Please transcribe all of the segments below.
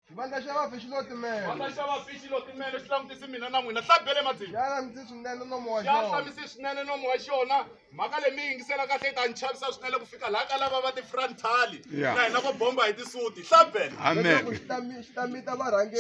xivandla xa vafi xi lo timela xivandla xa vafi xi lo timela xi langutisi mina na n'wina hla bele madzini xa langutisi swinene nomo wa xona xa hlamisi swinene nomo wa xona mhaka leyi mi yingisela kahle yi ta ni chavisa swinene ku fika laha ka lava va ti-frontali na hina vo bomba hi tisuti hla bele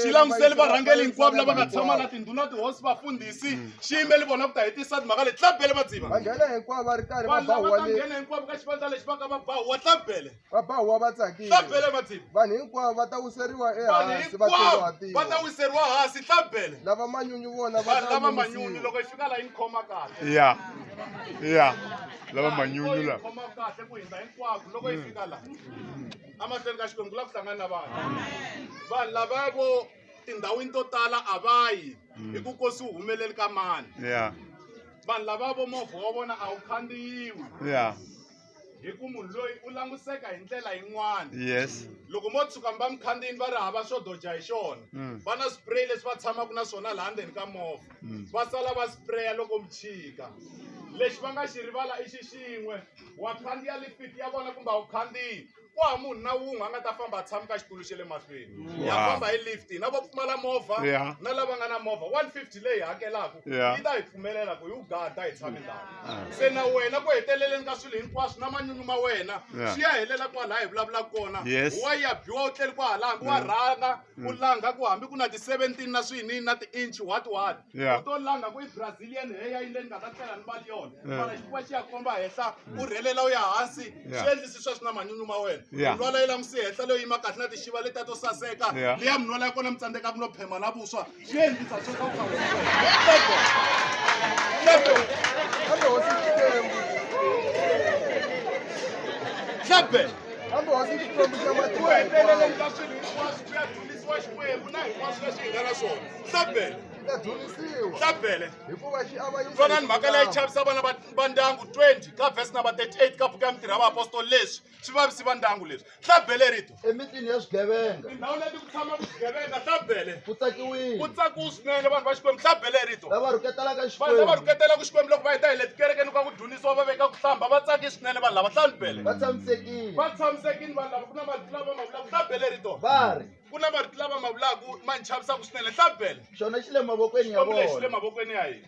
xi languseli varhangeli hinkwavo lava nga tshama na tindhuna tihosi vafundhisi mm. xi yimeli vona ku ta hi tisati mhaka leyi hla bele madziva vanhu lava ta nghena hinkwavo ka xivandla lexi va ka va bahuwa hla bele va ba huwa va tsakile swa bele matsimi vanhu hinkwavo va ta wiseriwa vanhu ehansi va hinkwavo va ta tsongahatiwa wiseriwa hansi swa bele lava manyunyu vona va vanhu ta lava manyunyu lulamisiwa. loko yi fika la yi ni khoma kahle ya ya lava manyunyu Yi la khoma kahle ku hindza hinkwako loko yi fika la amahlweni ka xikwembu ku lava ku hlangana na vanhu vanhu lava vo tindhawini to tala a va yi hi ku ko swi humeleli ka mani ya vanhu lava vo movha wa vona a wu khandziyiwi ya hi ku munhu loyi u langutiseka hi ndlela yin'wana yes loko mo tshuka mi va mukhandziyini va ri hava xo doja hi xona Mm. va na spray leswi va tshamaka na swona laha ndzeni ka movha Mm. va sala va spraya loko mi chika lexi va nga xi rivala i xi xin'we wa khandziya lifiti ya vona kumbe a wu khandziyi ku hava munhu na wun'we a nga ta famba a tshama ka xitulu xa le mahlweni ya Wow. famba hi lift na vo pfumala movha Yeah. na lava nga na movha 150 leyi hakelaka Yeah. yi ta hi pfumelela ku yi wu gada hi tshame ndhawu se na wena ku heteleleni ka swilo hinkwaswo na manyunyu ma wena Yeah. swi ya helela kwalaha hi vulavulaka kona Yes. wa ya biwa u tleli kwahalanga wa rhanga ku mm. langa ku hambi ku na ti-seventeen na swini na ti-inch what what u to langa ku i brazilian heya yi le ni nga ta tlela ni mali yona mara xifuva xi ya komba henhla u rhelela u ya hansi swi endlisi sweswi na manyunyu ma wena minwala yi langusi henhla leyo yima kahle na tixiva letiya to saseka leya minwala ya kona mi tsandzeka ku no phema na vuswa vonani mhaka leyi chavisa vana va ndyangu 20 ka vhesi namba 38 ka buku ya mitirha ya vaapostoli leswi swi vavisi va ndyangu leswi hlabele rito emitini ya swigevenga tindhawu leti ku tshama vugevenga hlabele ku tsakiwile ku tsakiwu swinene vanhu va xikwembu hlabele rito lava rhuketelaka vanhu lava xikwembu rhuketela ku xikwembu loko va heta hi le tikerekeni ka ku dyondzisiwa va veka ku hlamba va tsake swinene vanhu lava hlambele va tshamisekile va tshamisekile vanhu lava ku na marito lava ma vulaka hlabele rito va ri ku na marito lava ma vulaka ma ni chavisaka swinene hlabele xona xi le mavokweni ya xikwembu lexi le vona mavokweni ya hina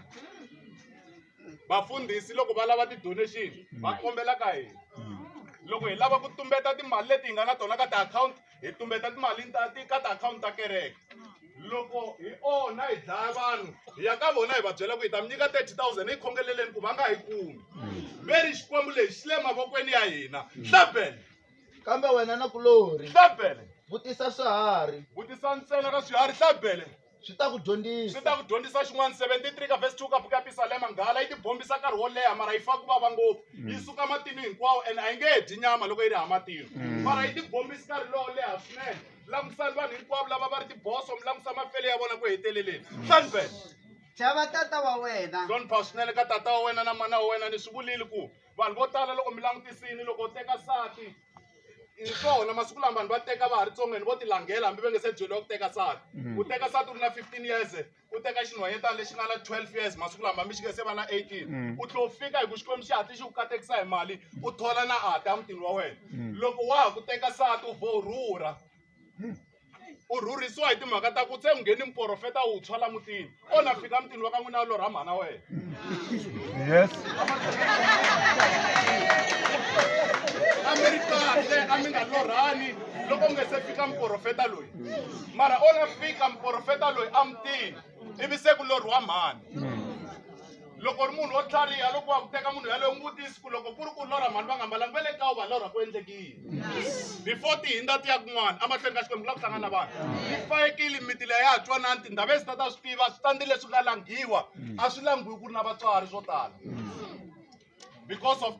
vafundhisi loko va lava ti-donation va mm. kombela ka hina mm. loko hi lava ku tumbeta timali leti hi nga na tona ka tiakhawunti hi tumbeta timali ka tiakhawunti ta kereke loko hi onha hi dlaya vanhu hi ya ka vona hi va byela ku hi ta mi nyika 30 000 hi khongeleleni ku va nga hi kumi mm. ve ri xikwembu lexi xi le mavokweni ya hina hlabele kambe wena na kulori hlabele vutisa swiharhi vutisa ntsena ka swiharhi hlabele swi ta ku dyondzisa swi ta ku dyondzisa xin'wana 73 ka vhesi 2 ka buku ya pisalema nghala yi tibombisa nkarhi wo leha mara yi fa ku vava ngopfu mm. yi suka matinu hinkwawo ene a yi nge he dyi nyama loko yi ri ha matinu mm. mara yi tibombisa nkarhi lowo leha swinene langutisani vanhu hinkwavo lava va ri tiboso mi langusa mafele ya vona ku heteleleni sanben chava tata wa wena hlonipha swinene ka tata wa wena na mana wa wena ni swi vulile ku vanhu vo tala loko mi langutisini loko u teka sati hi swona masiku lama vanhu va teka va ha ri tsongeni vo tilangela hambi va nge se byeliwa ku teka nsati u teka nsati u ri na fifteen years u teka xinhwanyetana lexi nga na twelve years masiku lama hambi xi nga se va na eighteen u tlhe u fika hi ku xikwembu xi hatli xi ku katekisa hi mali u thola na ata emutini wa wena loko wa ha ku teka nsati u vho rhurha u rhurhisiwa hi timhaka ta ku se ngheni muporofeta wu tshwa la mutini o na fika mutini wa ka n'wina lorha mhana wena yes a mi ri kahle a mi nga lorhani loko mi nga se fika muporofeta loyi mara o na fika muporofeta loyi a mutini ivi se ku lorhiwa mhani loko ri munhu wo tlhariha loko wa ku teka munhu yaloyo n'wi vutisi ku loko ku ri ku lorha mhani va nga mbalangi va le ka u va lorha ku endleki yini before ti hindza ti ya kun'wana emahlweni ka xikwembu ku la ku hlangana vanhu yi fayekile miti leyi ya ha twanani tindhava ezi ta ta swi tiva switandi leswi nga langhiwa a swi langhiwi ku ri na vatswari swo tala because of